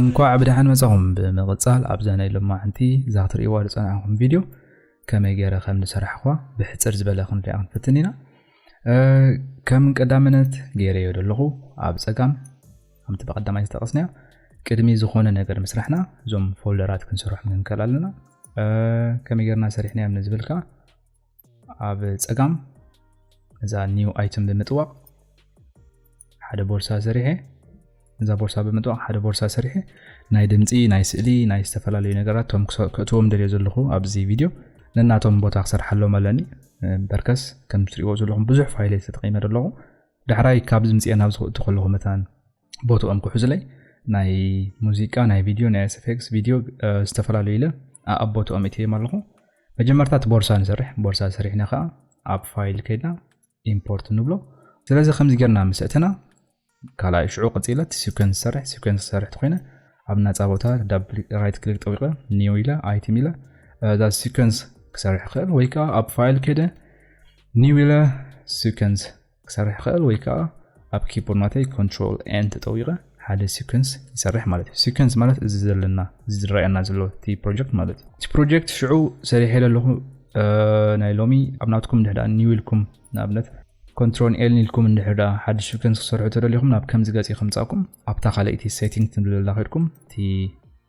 እንኳዕ ብደሓን መጻኹም ብምቕጻል ኣብዛ ናይ ሎማዓንቲ እዛ ክትርእይዋ ዝጸናዕኹም ቪድዮ ከመይ ገይረ ከም ዝሰራሕኳ ብሕጽር ዝበለ ክንሪኣ ክንፍትን ኢና ከም ቀዳምነት ገይረዮ ዘለኹ ኣብ ጸጋም ከምቲ ብቐዳማይ ዝጠቐስናዮ ቅድሚ ዝኾነ ነገር ምስራሕና እዞም ፎልደራት ክንሰርሖም ንንከል ኣለና ከመይ ጌርና ሰሪሕናዮም ንዝብል ከዓ ኣብ ፀጋም እዛ ኒው ኣይትም ብምጥዋቕ ሓደ ቦርሳ ሰሪሐ እዛ ቦርሳ ብምጥዋቕ ሓደ ቦርሳ ሰሪሐ ናይ ድምፂ ናይ ስእሊ ናይ ዝተፈላለዩ ነገራት ቶም ክእትዎም ደልዮ ዘለኹ ኣብዚ ቪድዮ ነናቶም ቦታ ክሰርሓሎም ኣለኒ በርከስ ከም ትሪእዎ ዘለኹም ብዙሕ ፋይለ ተጠቂመ ኣለኹ ዳሕራይ ካብዚ ምፅኤ ናብ ዝክእቱ ከለኹ መታን ቦትኦም ክሕዙለይ ናይ ሙዚቃ ናይ ቪድዮ ናይ ኤስፌክስ ቪድዮ ዝተፈላለዩ ኢለ ኣብ ቦትኦም እትዮም ኣለኹ መጀመርታ እቲ ቦርሳ ንሰርሕ ቦርሳ ሰሪሕና ከዓ ኣብ ፋይል ከይድና ኢምፖርት ንብሎ ስለዚ ከምዚ ጌርና ምስ እትና ካልኣይ ሽዑ ቀፂለ እቲ ሲኮንስ ዝሰርሕ ሲኮንስ ዝሰርሕ ተኮይነ ኣብ ናፃ ቦታ ዳብል ራይት ክሊክ ጠዊቀ ኒው ኢለ ኣይቲም ኢለ እዛ ሲኮንስ ክሰርሕ ክእል ወይ ከዓ ኣብ ፋይል ከይደ ኒው ኢለ ሲኮንስ ክሰርሕ ይኽእል ወይ ከዓ ኣብ ኪቦርድ ናተይ ኮንትሮል ኤን ተጠዊቐ ሓደ ሲኮንስ ይሰርሕ ማለት እዩ ሲኮንስ ማለት እዚ ዘለና እዚ ዝረኣየና ዘሎ እቲ ፕሮጀክት ማለት እዩ እቲ ፕሮጀክት ሽዑ ሰሪሐ ዘለኹ ናይ ሎሚ ኣብ ናትኩም እንድሕዳ ኒው ኢልኩም ንኣብነት ኮንትሮል ኤል ኢልኩም እንድሕዳ ሓድሽ ሲኮንስ ክሰርሑ ተደሊኹም ናብ ከምዚ ገፅ ከምፃኩም ኣብታ ካልኣይቲ ሴቲንግ ትብልላ ከድኩም እቲ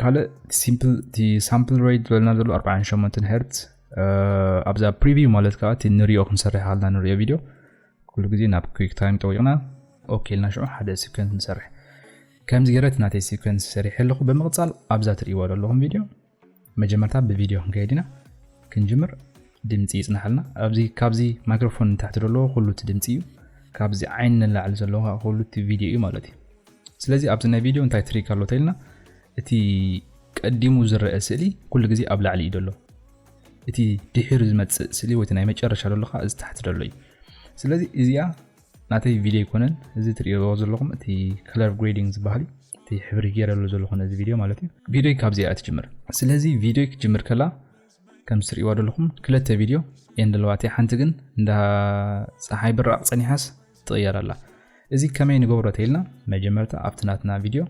ካልእ ሲምፕል እቲ ሳምፕል ሬት ዝበለና ዘሎ 48 ሄርት ኣብዛ ፕሪቪው ማለት ከዓ እቲ ንሪኦ ክንሰርሕ ኣለና ንሪኦ ቪድዮ ኩሉ ግዜ ናብ ኩክ ታይም ጠዊቕና ኦኬ ኢልና ሽዑ ሓደ ሲኮንስ ንሰርሕ ከምዚ ገረት ናተይ ሲኮንስ ሰሪሐ ኣለኹ ብምቕፃል ኣብዛ ትርእይዎ ዘለኹም ቪድዮ መጀመርታ ብቪድዮ ክንከይድ ኢና ክንጅምር ድምፂ ይፅናሓልና ኣብዚ ካብዚ ማይክሮፎን ንታሕቲ ዘለዎ ኩሉ እቲ ድምፂ እዩ ካብዚ ዓይኒ ንላዕሊ ዘለዎ ኩሉ እቲ ቪድዮ እዩ ማለት እዩ ስለዚ ኣብዚ ናይ ቪድዮ እንታይ ትሪክ ኣሎ ተኢልና እቲ ቀዲሙ ዝረአ ስእሊ ኩሉ ግዜ ኣብ ላዕሊ እዩ ዘሎ እቲ ድሒሩ ዝመጽእ ስእሊ ወይ ናይ መጨረሻ ዘሎ ከዓ እዚ ታሕቲ ዘሎ እዩ ስለዚ እዚኣ ናተይ ቪድዮ ኣይኮነን እዚ ትሪእዎ ዘለኹም እቲ ከለር ግሬዲንግ ዝበሃል እዩ እቲ ሕብሪ ገይረሉ ዘለኹ ነዚ ቪድዮ ማለት እዩ ቪድዮ ካብዚኣ ትጅምር ስለዚ ቪድዮ ክጅምር ከላ ከምቲ ትርእይዋ ዘለኹም ክልተ ቪድዮ እየን ዘለዋ እቲ ሓንቲ ግን እንዳ ፀሓይ ብራቕ ፀኒሓስ ትቕየር ኣላ እዚ ከመይ ንገብሮ ተኢልና መጀመርታ ኣብቲ ናትና ቪድዮ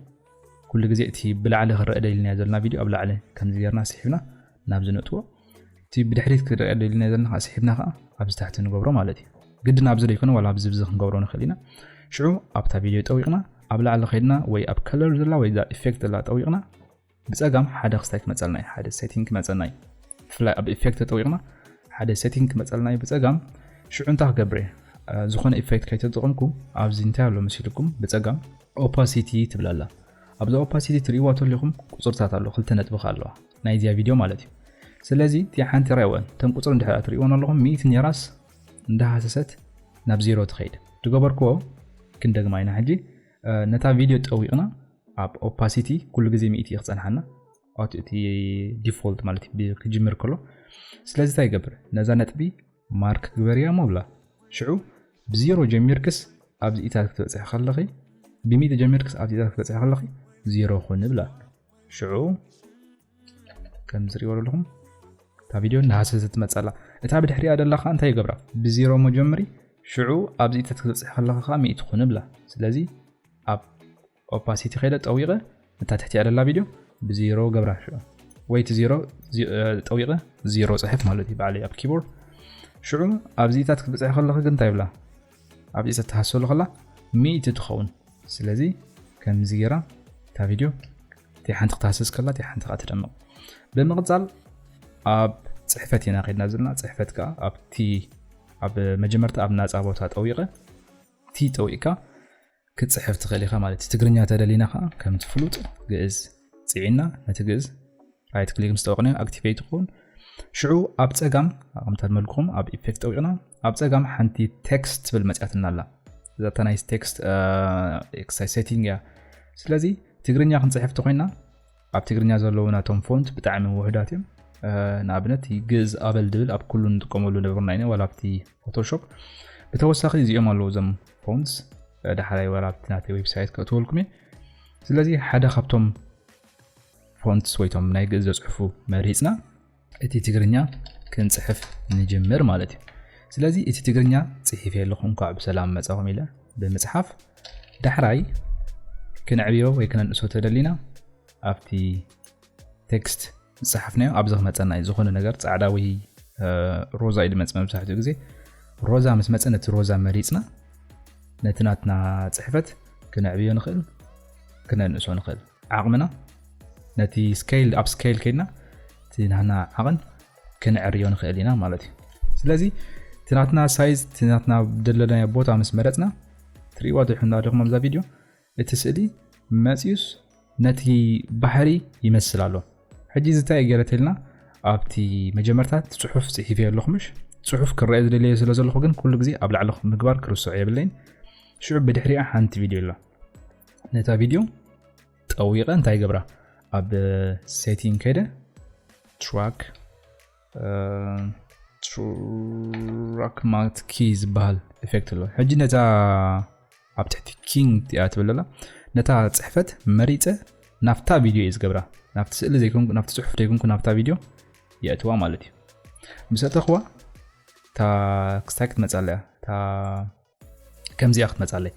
ኩሉ ግዜ እቲ ብላዕሊ ክረአ ደልና ዘለና ቪድዮ ኣብ ላዕሊ ከምዚ ጌርና ስሒብና ናብዚ ነጥዎ እቲ ብድሕሪት ክረአ ደልና ዘለና ከዓ ስሒብና ከዓ ኣብዚ ታሕቲ ንገብሮ ማለት እዩ ግድን ኣብዚ ዘይኮነ ዋላ ኣብዚ ብዚ ክንገብሮ ንኽእል ኢና ሽዑ ኣብታ ቪድዮ ጠዊቕና ኣብ ላዕሊ ከይድና ወይ ኣብ ከለር ዘላ ወይ እዛ ኢፌክት ዘላ ጠዊቕና ብጸጋም ሓደ ክስታይ ክመጸልና እዩ ሓደ ሴቲንግ ክመጸና እዩ ብፍላይ ኣብ ኢፌክት ተጠዊቕና ሓደ ሴቲንግ ክመጸልና እዩ ብጸጋም ሽዑ እንታይ ክገብር እየ ዝኾነ ኢፌክት ከይተጠቕምኩ ኣብዚ እንታይ ኣሎ መሲልኩም ብፀጋም ኦፓሲቲ ትብል ኣላ ኣብዛ ኦፓሲቲ ትርእይዋ ተለኹም ቁፅርታት ኣሎ ክልተ ነጥብኻ ኣለዋ ናይ እዚያ ቪድዮ ማለት እዩ ስለዚ እቲ ሓንቲ ራይወን እተን ቁፅሪ እንድሕር ትርእይዎን ኣለኹም ሚእቲ ኔራስ እንዳሃሰሰት ናብ ዜሮ ትኸይድ ዝገበርክዎ ክንደግማ ኢና ሕጂ ነታ ቪድዮ ጠዊቕና ኣብ ኦፓሲቲ ኩሉ ግዜ ሚእቲ እዩ ክፀንሓና እቲ ዲፎልት ማለት ክጅምር ከሎ ስለዚ እንታይ ይገብር ነዛ ነጥቢ ማርክ ግበርያ ሞብላ ሽዑ ብዜሮ ጀሚርክስ ኣብዚ ኢታት ክትበፅሒ ከለኺ ብሚእቲ ጀሚርክስ ኣብዚ ኢታት ክትበፅሒ ከለኺ ዜሮ ኩን ብላ ሽዑ ከምዚ ሪኦ ኣለኹም እታ ቪድዮ ናሃሰ ዝትመጸላ እታ ብድሕሪያ ደላኻ እንታይ ይገብራ ብዜሮ መጀምሪ ሽዑ ኣብዚ ተትክትብጽሕ ከለኻ ከዓ ሚእቲ ኩን ብላ ስለዚ ኣብ ኦፓሲቲ ከይደ ጠዊቐ እታ ትሕቲያ ደላ ቪድዮ ብዜሮ ገብራ ሽዑ ወይ እቲ ዜሮ ጠዊቐ ዜሮ ፅሕፍ ማለት እዩ በዓለይ ኣብ ኪቦርድ ሽዑ ኣብዚታት ክትብፅሕ ከለኺ ግን እንታይ ይብላ ኣብዚ ተተሃሰሉ ከላ ሚእቲ ትኸውን ስለዚ ከምዚ ጌራ እታ ቪድዮ እቲ ሓንቲ ክትሃስስ ከላ እቲ ሓንቲ ከዓ ትደምቕ ብምቕፃል ኣብ ፅሕፈት ኢና ከድና ዘለና ፅሕፈት ከዓ ኣብቲ ኣብ መጀመርታ ኣብ ናፃ ቦታ ጠዊቐ እቲ ጠዊቕካ ክትጽሕፍ ትኽእል ኢኻ ማለት እዩ። ትግርኛ ተደሊና ከኣ ከምቲ ፍሉጥ ግእዝ ጽዒና ነቲ ግእዝ ራይት ክሊክ ምስ ጠወቕናዮ ኣክቲቬት ይኸውን ሽዑ ኣብ ጸጋም ከምታ መልኩም ኣብ ኢፌክት ጠዊቕና ኣብ ጸጋም ሓንቲ ቴክስት ትብል መጽያትና ኣላ እዛታ ናይ ቴክስት ኤክሳይ ሴቲንግ እያ ስለዚ ትግርኛ ክንጽሕፍቲ ኮይና ኣብ ትግርኛ ዘለዉ ናቶም ፎንት ብጣዕሚ ውሑዳት እዮም ንኣብነት ግእዝ ኣበል ድብል ኣብ ኩሉ ንጥቀመሉ ነበርና ኢና ዋላ ኣብቲ ፎቶሾፕ ብተወሳኺ እዚኦም ኣለዉ እዞም ፎንስ ዳሕራይ ዋላ ኣብቲ ናተይ ዌብሳይት ከእትወልኩም እየ ስለዚ ሓደ ካብቶም ፎንትስ ወይቶም ናይ ግእዝ ዘፅሑፉ መሪፅና እቲ ትግርኛ ክንጽሕፍ ንጅምር ማለት እዩ ስለዚ እቲ ትግርኛ ጽሒፈ ኣለኹ እንኳዕ ብሰላም መጻኹም ኢለ ብምጽሓፍ ዳሕራይ ክንዕብዮ ወይ ክነንእሶ ተደሊና ኣብቲ ቴክስት ዝጸሓፍናዮ ኣብዚ ክመፀና እዩ ዝኾነ ነገር ፃዕዳ ወይ ሮዛ እዩ ድመፅ መብዛሕትኡ ግዜ ሮዛ ምስ መፀ ነቲ ሮዛ መሪፅና ነቲ ናትና ፅሕፈት ክነዕብዮ ንኽእል ክነንእሶ ንኽእል ዓቕምና ነቲ ስከይል ኣብ ስከይል ከድና እቲ ናትና ዓቕን ክንዕርዮ ንኽእል ኢና ማለት እዩ ስለዚ እቲ ናትና ሳይዝ እቲ ናትና ደለናዮ ቦታ ምስ መረፅና ትርእዋ ድሕና ደኹም ኣብዛ ቪድዮ እቲ ስእሊ መፅዩስ ነቲ ባሕሪ ይመስል ኣሎ ሕጂ እዚ እንታይ ገረተልና ኣብቲ መጀመርታት ፅሑፍ ፅሒፍ እየ ኣለኹምሽ ፅሑፍ ክረአ ዝደለየ ስለ ዘለኹ ግን ኩሉ ግዜ ኣብ ላዕሊ ምግባር ክርስዑ የብለይን ሽዑ ብድሕሪኣ ሓንቲ ቪድዮ ኣላ ነታ ቪድዮ ጠዊቐ እንታይ ይገብራ ኣብ ሴቲንግ ከይደ ትራክ ትራክ ማለት ኪ ዝበሃል ኤፌክት ኣሎ ሕጂ ነታ ኣብ ትሕቲ ኪንግ እቲኣ ትብል ኣላ ነታ ፅሕፈት መሪፀ ናብታ ቪድዮ እዩ ዝገብራ ናብቲ ስእሊ ዘይኮንኩ ናብቲ ፅሑፍ ዘይኮንኩ ናብታ ቪድዮ የእትዋ ማለት እዩ ምስ ኣተኽዋ እታ ክስታይ ክትመፅእ ኣለያ እታ ከምዚኣ ክትመጻለይ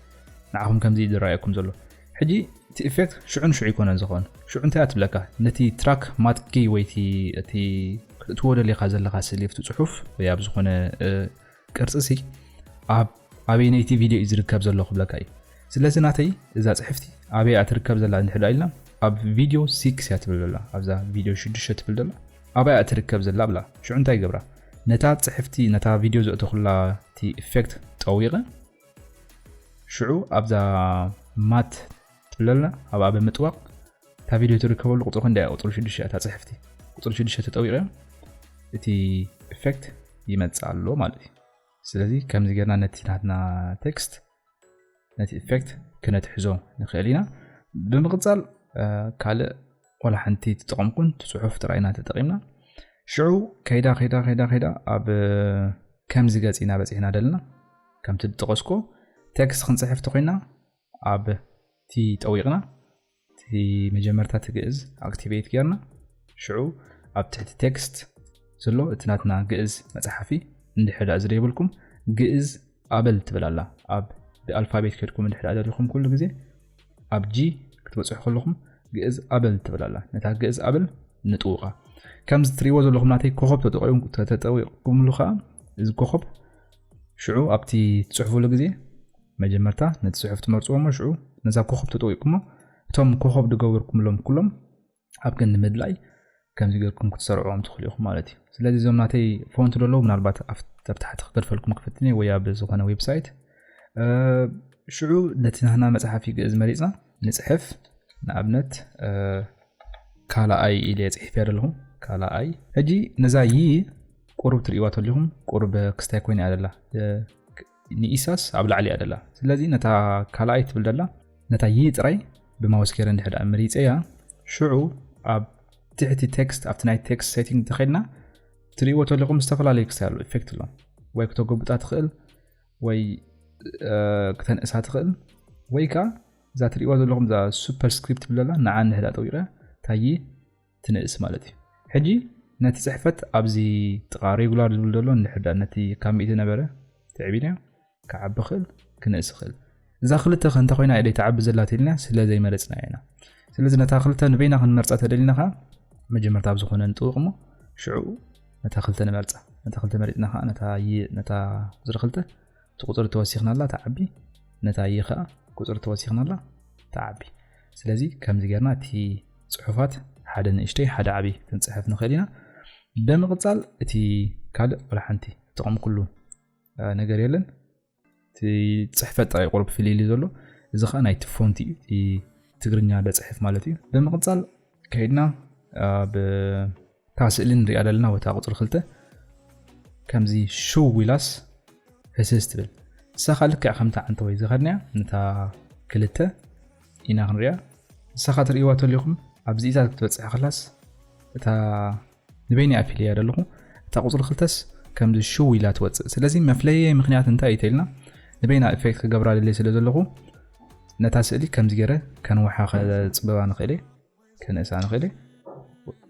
ንዓኹም ከምዚ ዝረኣየኩም ዘሎ ሕጂ እቲ ኢፌክት ሽዑ ንሽዑ ይኮነን ዝኾን ሽዑ እንታይ እያ ትብለካ ነቲ ትራክ ማትኪ ወይ እቲ ክትእትዎ ደሊኻ ዘለካ ስእሊ ኣብቲ ፅሑፍ ወይ ኣብ ዝኾነ ቅርፂ ሲ ኣብ ኣበይነይቲ ቪድዮ እዩ ዝርከብ ዘሎ ክብለካ እዩ ስለዚ ናተይ እዛ ፅሕፍቲ ኣበይ እያ ትርከብ ዘላ እንድሕዳ ኢልና ኣብ ቪድዮ ሲክስ እያ ትብል ዘላ ኣብዛ ቪድዮ ሽዱሽተ ትብል ዘላ ኣበይ እያ ትርከብ ዘላ እብላ ሽዑ እንታይ ይገብራ ነታ ጽሕፍቲ ነታ ቪድዮ ዘእተኹላ እቲ ኢፌክት ጠዊቐ ሽዑ ኣብዛ ማት ትብለላ ኣብኣ ብምጥዋቕ እታ ቪድዮ ትርከበሉ ቁፅሪ ክንደይ እያ ቁፅሪ ሽዱሽተ እታ ጽሕፍቲ ቁፅሪ ሽዱሽተ ተጠዊቐ እቲ ኢፌክት ይመጽእ ኣሎ ማለት እዩ ስለዚ ከምዚ ጌርና ነቲ ናትና ቴክስት ነቲ ኢፌክት ክነትሕዞ ንኽእል ኢና ብምቕፃል ካልእ ዋላ ሓንቲ ትጠቐምኩን ትፅሑፍ ጥራይ ኢና ተጠቒምና ሽዑ ከይዳ ከይዳ ከይዳ ከይዳ ኣብ ከምዚ ገፂ ኢና በፂሕና ደለና ከምቲ ዝጠቐስኩ ቴክስት ክንፅሕፍ ተኮይና ኣብቲ ጠዊቕና እቲ መጀመርታ እቲ ግእዝ ኣክቲቬት ጌርና ሽዑ ኣብ ትሕቲ ቴክስት ዘሎ እቲ ናትና ግእዝ መፅሓፊ እንድሕዳ እዚ ዘይብልኩም ግእዝ ኣበል ትብል ኣላ ኣብ ብኣልፋቤት ከድኩም እንድሕዳ ደሊኹም ኩሉ ግዜ ኣብ ጂ ክትበፅሑ ከለኹም ግእዝ ኣበል ትብል ኣላ ነታ ግእዝ ኣበል ንጥውቓ ከምዚ ትሪእዎ ዘለኹም ናተይ ኮኸብ ተጠቂምኩም ተጠቂምሉ ከዓ እዚ ኮኸብ ሽዑ ኣብቲ ትጽሕፉሉ ግዜ መጀመርታ ነቲ ጽሑፍ ትመርጽዎ እሞ ሽዑ ነዛ ኮኸብ ተጠዊቕኩሞ እቶም ኮኸብ ዝገበርኩምሎም ኩሎም ኣብ ክንዲ ምድላይ ከምዚ ጌርኩም ክትሰርዕዎም ትኽእሉ ኢኹም ማለት እዩ ስለዚ እዞም ናተይ ፎንት ደለዉ ምናልባት ኣብ ታሕቲ ክገድፈልኩም ክፍትኒ ወይ ኣብ ዝኾነ ዌብሳይት ሽዑ ነቲ ናህና መፅሓፊ ግእዝ መሪፅና ንጽሕፍ ንኣብነት ካልኣይ ኢለ ጽሒፍ እያ ዘለኹም ካልኣይ ሕጂ ነዛ ይ ቁሩብ ትርእዋ ተሊኹም ቁሩብ ክስታይ ኮይና እያ ዘላ ንኢሳስ ኣብ ላዕሊ እያ ዘላ ስለዚ ነታ ካልኣይ ትብል ዘላ ነታ ይ ጥራይ ብማውስ ገይረ እንድሕዳ መሪፀያ ሽዑ ኣብ ትሕቲ ቴክስት ኣብቲ ናይ ቴክስት ሴቲንግ ተኸድና ትርእዎ ተለኹም ዝተፈላለዩ ክስታይ ኣሎ ኢፌክት ኣሎ ወይ ክተጎብጣ ትኽእል ወይ ክተንእሳ ትኽእል ወይ ከዓ እዛ ትሪእዋ ዘለኹም እዛ ሱፐር ስክሪፕት ብለላ ንዓ ንህዳ ጠዊቐ ታይ ትንእስ ማለት እዩ ሕጂ ነቲ ፅሕፈት ኣብዚ ጥቓ ሬጉላር ዝብል ዘሎ ንሕዳ ነቲ ካብ ሚእቲ ነበረ ትዕቢናዮ ክዓቢ ክእል ክንእስ ክእል እዛ ክልተ ከ እንተ ኮይና ኢለይ ትዓቢ ዘላ ተልና ስለ ዘይመረጽናያ ኢና ስለዚ ነታ ክልተ ንበይና ክንመርጻ ተደሊና ከኣ መጀመርታ ኣብ ዝኾነ ንጥውቕ እሞ ሽዑኡ ነታ ክልተ ንመርጻ ነታ ክልተ መሪጽና ከኣ ነታ ይ ነታ ቁፅሪ ክልተ እቲ ቁፅሪ ተወሲኽናላ ትዓቢ ነታ ይ ከኣ ቁፅሪ ተወሲኽናላ ትዓቢ ስለዚ ከምዚ ጌርና እቲ ፅሑፋት ሓደ ንእሽተይ ሓደ ዓብዪ ክንፅሕፍ ንኽእል ኢና ብምቕፃል እቲ ካልእ ወላ ሓንቲ ጥቕሚ ኩሉ ነገር የለን ፅሕፈት ጥራይ ቁርብ ፍልይሊ ዘሎ እዚ ከዓ ናይቲ ፎንቲ እዩ ትግርኛ ደፅሕፍ ማለት እዩ ብምቕፃል ከይድና ኣብታ ስእሊ ንሪኣ ዘለና ወታ ቁፅሪ ክልተ ከምዚ ሽው ኢላስ ህስስ ትብል ንሳ ከዓ ልክዕ ከምታ ዓንተ ወይ ዝኸድናያ ነታ ክልተ ኢና ክንሪያ ንሳ ከዓ ትርእይዋ ተለኹም ኣብዚ ኢዛ ክትበፅሕ ከላስ እታ ንበይነይ ኣፊለያ ደለኹ እታ ቁጽሪ ክልተስ ከምዚ ሽው ኢላ ትወጽእ ስለዚ መፍለይየይ ምኽንያት እንታይ እዩ ተልና ንበይና ኢፌክት ክገብራ ደልየ ስለ ዘለኹ ነታ ስእሊ ከምዚ ገረ ከንውሓ ከጽብባ ንኽእል እየ ከንእሳ ንኽእል እየ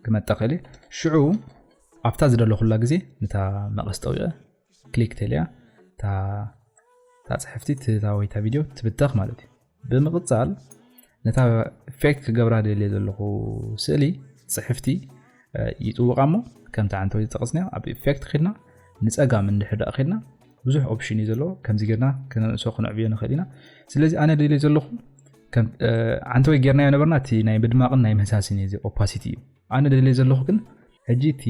ክመጣ ክእል እየ ሽዑ ኣብታ ዝደለኹላ ግዜ ነታ መቐስ ጠዊቐ ክሊክ ተልያ እታ እታ ጽሕፍቲ እታ ወይ እታ ቪድዮ ትብተኽ ማለት እዩ ብምቕጻል ነታ ፌክ ክገብራ ደልየ ዘለኹ ስእሊ ጽሕፍቲ ይጥውቓ እሞ ከምቲ ዓንተ ወይ ዝጠቐስናዮ ኣብ ኢፌክት ኺድና ንጸጋም እንድሕር ደኣ ኺድና ብዙሕ ኦፕሽን እዩ ዘለዎ ከምዚ ጌርና ክነንእሶ ክነዕብዮ ንኽእል ኢና ስለዚ ኣነ ደልየ ዘለኹ ዓንተ ወይ ጌርናዮ ነበርና እቲ ናይ ምድማቕን ናይ ምህሳስን እዩ እዚ ኦፓሲቲ እዩ ኣነ ደልየ ዘለኹ ግን ሕጂ እቲ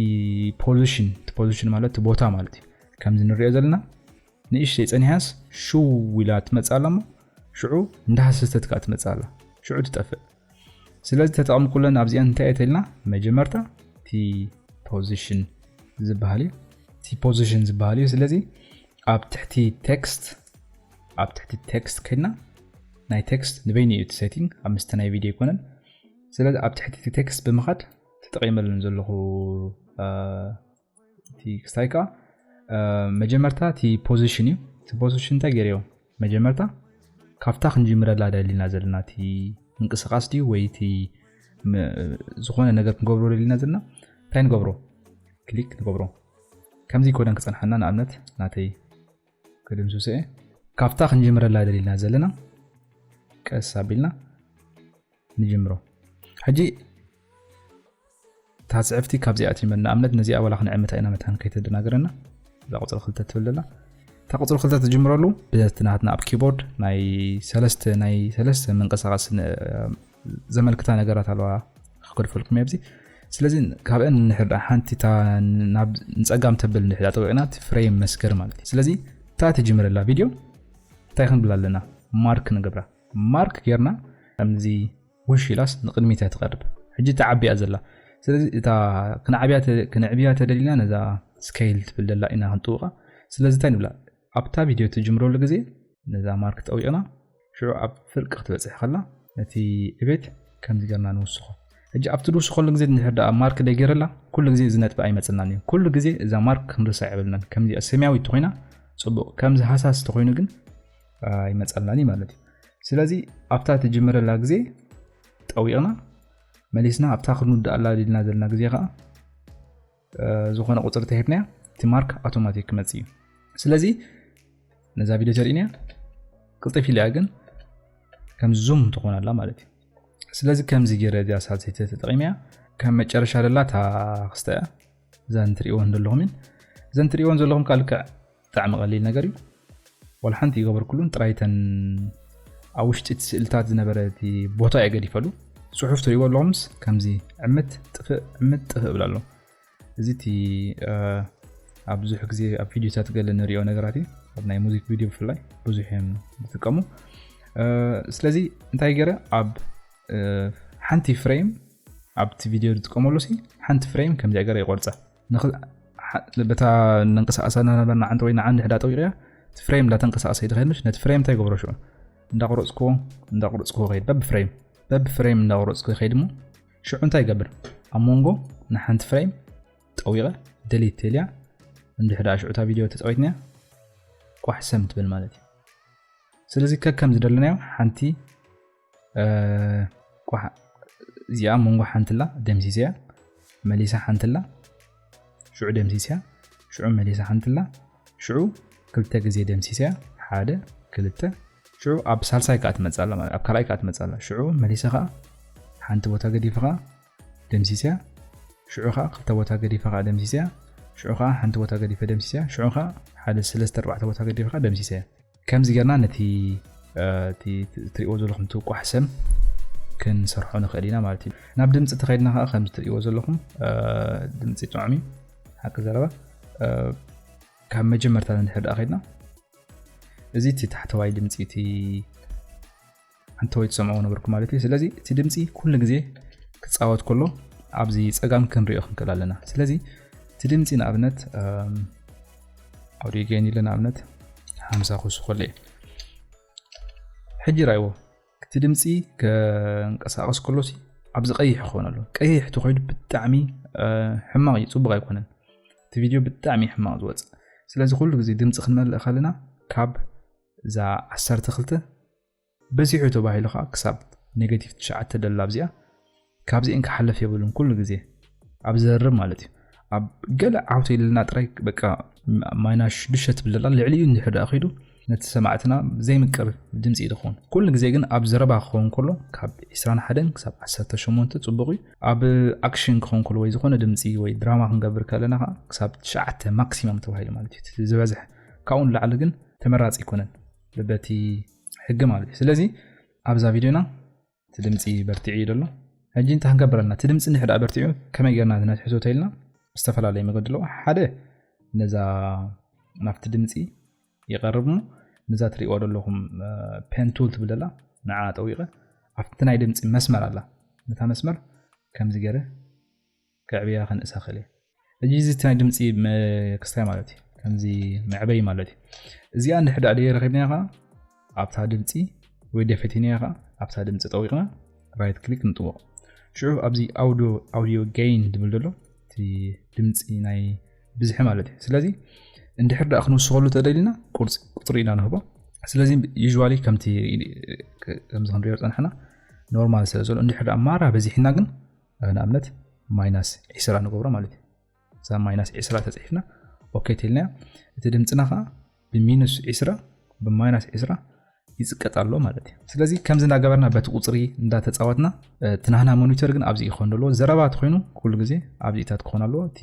ፖዚሽን እቲ ፖዚሽን ማለት እቲ ቦታ ማለት እዩ ከምዚ ንሪኦ ዘለና ንእሽተይ ጸኒሓስ ሽው ኢላ ትመጽእ ኣላ እሞ ሽዑ እንዳሃሰሰተት ከኣ ትመጽእ ኣላ ሽዑ ትጠፍእ ስለዚ ተጠቕሚ ኩለን ኣብዚኣን እንታይ እየ ተልና መጀመርታ ቲ ፖዚሽን ዝበሃል እዩ ቲ ፖዚሽን ዝበሃል እዩ ስለዚ ኣብ ትሕቲ ቴክስት ኣብ ትሕቲ ቴክስት ከድና ናይ ቴክስት ንበይኑ እዩ እቲ ሴቲንግ ኣብ ምስቲ ናይ ቪድዮ ኣይኮነን ስለዚ ኣብ ትሕቲ እቲ ቴክስት ብምኻድ ተጠቂመለን ዘለኹ እቲ ክስታይ ከዓ መጀመርታ እቲ ፖዚሽን እዩ እቲ ፖዚሽን እንታይ ገይረ መጀመርታ ካብታ ክንጅምረላ ደሊና ዘለና እቲ ምንቅስቃስ ድዩ ወይ እቲ ዝኾነ ነገር ክንገብሮ ደሊና ዘለና እንታይ ንገብሮ ክሊክ ንገብሮ ከምዚ ኮደን ክፀንሓና ንኣብነት ናተይ ክድምስሰ ካብታ ክንጅምረላ ደሊና ዘለና ቀስ ኣቢልና ንጅምሮ ሕጂ እታ ጽሕፍቲ ካብዚኣ ትጅመር ንኣብነት ነዚኣ ዋላ ክንዕምታ ኢና መታን ከይተደናገረና እዛ ቁፅሪ ክልተ ትብል ዘላ እታ ቁፅሪ ክልተ ትጅምረሉ ብዘቲ ናትና ኣብ ኪቦርድ ናይ ሰለስተ ናይ ሰለስተ ምንቅስቃስ ዘመልክታ ነገራት ኣለዋ ክገድፈልኩም እየ ኣብዚ ስለዚ ካብአን ንሕዳ ሓንቲ እታ ናብ ንፀጋም ተብል ንሕዳ ጠቂቕና ፍሬም መስገር ማለት እዩ ስለዚ እታ ትጅምረላ ቪድዮ እንታይ ክንብላ ኣለና ማርክ ንገብራ ማርክ ጌርና ከምዚ ውሽ ኢላስ ንቅድሚት እያ ትቀርብ ሕጂ ትዓቢ እያ ዘላ ስለዚ እታ ክንዓብያ ክንዕብያ ተደሊና ነዛ ስከይል ትብል ደላ ኢና ክንጥውቃ ስለዚ እንታይ ንብላ ኣብታ ቪድዮ ትጅምረሉ ግዜ ነዛ ማርክ ጠዊቅና ሽዑ ኣብ ፍርቂ ክትበጽሕ ከላ ነቲ ዕቤት ከምዚ ጌርና ንውስኮ ሕጂ ኣብቲ ድውስኸሉ ግዜ እንድሕር ደኣ ማርክ ደገረላ ኩሉ ግዜ እዚ ነጥቢ ኣይመጽናን እዩ ኩሉ ግዜ እዛ ማርክ ክንርሳ የብልናን ከምዚ ሰማያዊት ተኾይና ጽቡቕ ከምዚ ሃሳስ ተኾይኑ ግን ይመፀልናኒ ማለት እዩ ስለዚ ኣብታ ትጅምረላ ግዜ ጠዊቕና መሊስና ኣብታ ክንውድኣላ ድልና ዘለና ግዜ ከዓ ዝኾነ ቁፅሪ ተሂብናያ እቲ ማርክ ኣውቶማቲክ ክመፅ እዩ ስለዚ ነዛ ቪድዮ ተርእንያ ቅልጥፍ ኢልያ ግን ከም ዙም ትኾን ኣላ ማለት እዩ ስለዚ ከምዚ ገይረ እዚኣ ሳልሰይቲ ተጠቂመያ ከም መጨረሻ ደላ እታ ክስተ እያ እዘን ትርእይወን ዘለኹም እየን። እዘን ትርእይወን ዘለኹም ከኣ ልክዕ ብጣዕሚ ቀሊል ነገር እዩ። ዋላ ሓንቲ ይገበርኩሉን ጥራይ እተን ኣብ ውሽጢ እቲ ስእልታት ዝነበረ እቲ ቦታ እየ ገዲፈሉ። ጽሑፍ ትርእይዎ ኣለኹምስ ከምዚ ዕምት ጥፍእ ዕምት ጥፍእ እብል ኣሎ። እዚ እቲ ኣብ ብዙሕ ግዜ ኣብ ቪድዮታት ገለ ንሪኦ ነገራት እዩ። ኣብ ናይ ሙዚክ ቪድዮ ብፍላይ ብዙሕ እዮም ዝጥቀሙ። ስለዚ እንታይ ገይረ ኣብ ሓንቲ ፍሬም ኣብቲ ቪድዮ ዝጥቀመሉ ሲ ሓንቲ ፍሬም ከምዚኣ ገረ ይቆርፃ በታ ነንቀሳቀሳ ናበና ዓንቲ ወይ ንዓንዲ ሕዳ ጠዊቅያ እቲ ፍሬም እንዳተንቀሳቀሰ ይድኸድ ምሽ ነቲ ፍሬም እንታይ ይገብሮ ሽዑ እንዳቆረፅክዎ እንዳቆረፅክዎ ከይድ በብ ፍሬም በብ ፍሬም እንዳቆረፅኩ ይኸይድ እሞ ሽዑ እንታይ ይገብር ኣብ መንጎ ንሓንቲ ፍሬም ጠዊቐ ደሊት ቴልያ እንድሕዳ ሽዑታ ቪድዮ ተፃዊትናያ ቋሕ ሰም ትብል ማለት እዩ ስለዚ ከከም ዝደለናዮ ሓንቲ እዚኣ መንጎ ሓንትላ ደምሲሰያ መሊሳ ሓንትላ ሽዑ ደምሲሰያ ሽዑ መሊሳ ሓንትላ ሽዑ ክልተ ግዜ ደምሲሰያ ሓደ ክልተ ሽዑ ኣብ ሳልሳይ ከዓ ትመፅላ ማለት ኣብ ካልኣይ ከዓ ትመፅላ ሽዑ መሊሰ ከዓ ሓንቲ ቦታ ገዲፈ ከዓ ደምሲሰያ ሽዑ ከዓ ክልተ ቦታ ገዲፈ ከዓ ደምሲሰያ ሽዑ ከዓ ሓንቲ ቦታ ገዲፈ ደምሲሰያ ሽዑ ከዓ ሓደ ሰለስተ ኣርባዕተ ቦታ ገዲፈ ከዓ ደምሲሰያ ከምዚ ጌርና ነቲ እቲ እትርእይዎ ዘለኹም እቲ ቋሕሰም ክንሰርሖ ንኽእል ኢና ማለት እዩ ናብ ድምፂ ተኸይድና ከዓ ከምዚ እትርእይዎ ዘለኹም ድምፂ ጥዑም እዩ ሓቂ ዘረባ ካብ መጀመርታ ንድሕር ደኣ ከይድና እዚ እቲ ታሕተዋይ ድምፂ እቲ እንተወይ ትሰምዕዎ ነበርኩ ማለት እዩ ስለዚ እቲ ድምፂ ኩሉ ግዜ ክፃወት ከሎ ኣብዚ ፀጋም ክንሪኦ ክንክእል ኣለና ስለዚ እቲ ድምፂ ንኣብነት ኣውዲዮ ገይን ኢለ ንኣብነት ሓምሳ ክውስኮ ኣለ እዩ ሕጂ ራይዎ እቲ ድምፂ ከንቀሳቀስ ከሎ ኣብዚ ቀይሕ ክኾነ ኣሎ ቀይሕ ተኮይዱ ብጣዕሚ ሕማቕ እዩ ፅቡቅ ኣይኮነን እቲ ቪድዮ ብጣዕሚ ሕማቕ ዝወፅእ ስለዚ ኩሉ ግዜ ድምፂ ክንመልእ ከለና ካብ እዛ ዓሰርተ ክልተ በዚሑ ተባሂሉ ከኣ ክሳብ ኔገቲቭ ትሽዓተ ደላ ኣብዚኣ ካብዚኤን ክሓልፍ የብሉን ኩሉ ግዜ ኣብ ዘርብ ማለት እዩ ኣብ ገለ ዓውተ ኢልና ጥራይ በቃ ማይና ሽዱሽተ ትብለላ ልዕሊኡ እንድሕር ደኣ ኺዱ ነቲ ሰማዕትና ዘይምቅር ድምፂ እዩ ዝኸውን ኩሉ ግዜ ግን ኣብ ዘረባ ክኸውን ከሎ ካብ 21 ክሳብ 18 ፅቡቅ እዩ ኣብ ኣክሽን ክኸውን ከሎ ወይ ዝኾነ ድምፂ ወይ ድራማ ክንገብር ከለና ከዓ ክሳብ ትሽዓተ ማክሲመም ተባሂሉ ማለት እዩ ዝበዝሕ ካብኡ ንላዕሊ ግን ተመራፂ ኣይኮነን በቲ ሕጊ ማለት እዩ ስለዚ ኣብዛ ቪድዮና እቲ ድምፂ በርቲዑ እዩ ዘሎ ሕጂ እንታይ ክንገብር ኣለና እቲ ድምፂ እንድሕዳ በርቲዑ ከመይ ጌርና ዝነትሕዞ ተኢልና ዝተፈላለየ መገዲ ኣለዎ ሓደ ነዛ ናብቲ ድምፂ ይቐርብ ሞ ነዛ ትሪእዋ ዘለኹም ፔንቱል ትብል ዘላ ንዓ ጠዊቐ ኣብቲ ናይ ድምፂ መስመር ኣላ ነታ መስመር ከምዚ ገይረ ከዕብያ ከንእሳ ክእል እየ ሕጂ እዚ ናይ ድምፂ ክስታይ ማለት እዩ ከምዚ መዕበይ ማለት እዩ እዚኣ እንድሕዳ ደየ ረኪብናያ ከዓ ኣብታ ድምፂ ወይ ደ ፈቲናያ ከዓ ኣብታ ድምፂ ጠዊቕና ራይት ክሊክ ንጥወቕ ሽዑ ኣብዚ ኣውዲዮ ገይን ዝብል ዘሎ እቲ ድምፂ ናይ ብዝሒ ማለት እዩ ስለዚ እንድሕር ዳኣ ክንውስኸሉ ተደሊና ቁፅሪ ኢና ንህቦ ስለዚ ዩዋሊ ከምቲ ከምዚ ክንሪኦ ፀናሕና ኖርማል ስለ ዘሎ እንድሕር ዳኣ ማራ በዚሕና ግን ንኣብነት ማይናስ ዒስራ ንገብሮ ማለት እዩ እዛ ማይናስ ዒስራ ተፅሒፍና ኦኬ ትልናዮ እቲ ድምፅና ከዓ ብሚኑስ ዒስራ ብማይናስ ዒስራ ይፅቀጥ ኣሎ ማለት እዩ ስለዚ ከምዚ እንዳገበርና በቲ ቁፅሪ እንዳተፃወትና ትናህና ሞኒተር ግን ኣብዚ ይኮን ኣለዎ ዘረባ ትኮይኑ ኩሉ ግዜ ኣብዚታት ክኾን ኣለዎ እቲ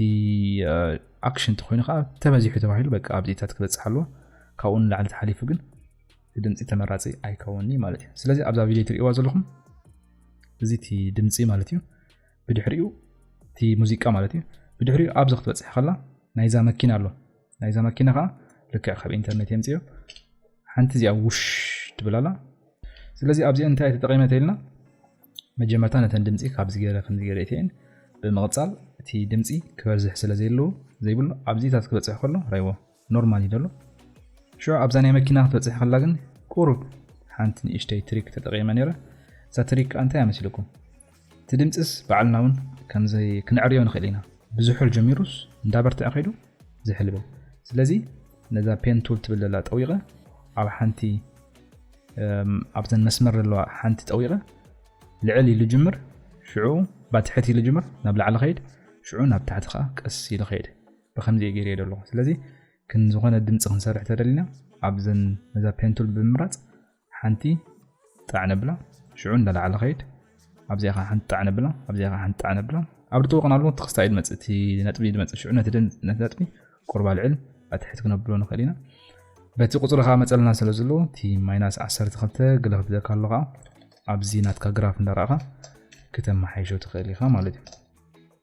ኣክሽን ትኮይኑ ከዓ ተበዚሑ ተባሂሉ በቃ ኣብዚታት ክበፅሕ ኣለዎ ካብኡ ንላዕሊ ተሓሊፉ ግን ድምፂ ተመራፂ ኣይከውን እዩ ማለት እዩ ስለዚ ኣብዛ ቪድዮ ትርእዋ ዘለኹም እዚ እቲ ድምፂ ማለት እዩ ብድሕሪኡ እቲ ሙዚቃ ማለት እዩ ብድሕሪኡ ኣብዚ ክትበፅሕ ከላ ናይዛ መኪና ኣሎ ናይዛ መኪና ከዓ ልክዕ ካብ ኢንተርኔት የምፅዮ ሓንቲ እዚኣ ውሽ ትብላላ ስለዚ ኣብዚ እንታይ ተጠቂመ ተኢልና መጀመርታ ነተን ድምፂ ካብዚ ገይረ ከምዚ ገይረ እተን ብምቕፃል እቲ ድምፂ ክበዝሕ ስለ ዘይብሉ ኣብዚታት ክበፅሕ ከሎ ራይዎ ኖርማል እዩ ደሎ ሽዑ ኣብዛ ናይ መኪና ክትበጽሕ ከላ ግን ቁሩብ ሓንቲ ንእሽተይ ትሪክ ተጠቂመ ነይረ እዛ ትሪክ ከኣ እንታይ እያ መሲልኩም እቲ ድምጽስ ባዕልና እውን ከምዘይ ክንዕርዮ ንኽእል ኢና ብዝሑል ጀሚሩስ እንዳበርትዐ ከይዱ ዝሕል ይብል ስለዚ ነዛ ፔን ቱል ትብል ዘላ ጠዊቐ ኣብ ሓንቲ ኣብዘን መስመር ዘለዋ ሓንቲ ጠዊቐ ልዕል ኢሉ ጅምር ሽዑ ባትሕት ኢሉ ጅምር ናብ ላዕሊ ኸይድ ሽዑ ናብ ታሕቲ ከዓ ቀስ ኢሉ ኸይድ ብከምዚ እየ ገይረዮ ዘለኹ ስለዚ ክንዝኾነ ድምፂ ክንሰርሕ ተደሊና ኣብዘን ነዛ ፔንቱል ብምምራፅ ሓንቲ ጣዕ ነብላ ሽዑ እንዳላዕለ ከይድ ኣብዚኣ ከዓ ሓንቲ ጣዕ ነብላ ኣብዚኣ ከዓ ሓንቲ ጣዕ ነብላ ኣብ ድጥወቅን ኣለዎ እቲ ክስታ እዩ ድመፅእ እቲ ነጥቢ እዩ ድመፅእ ሽዑ ነቲ ነጥቢ ቁርባ ልዕል ኣትሕት ክነብሎ ንኽእል ኢና በቲ ቁፅሪ ከዓ መፀልና ስለ ዘሎ እቲ ማይናስ 12 ግለ ክብደካ ኣሎ ከዓ ኣብዚ ናትካ ግራፍ እንዳረእኻ ክተመሓይሾ ትኽእል ኢኻ ማለት እዩ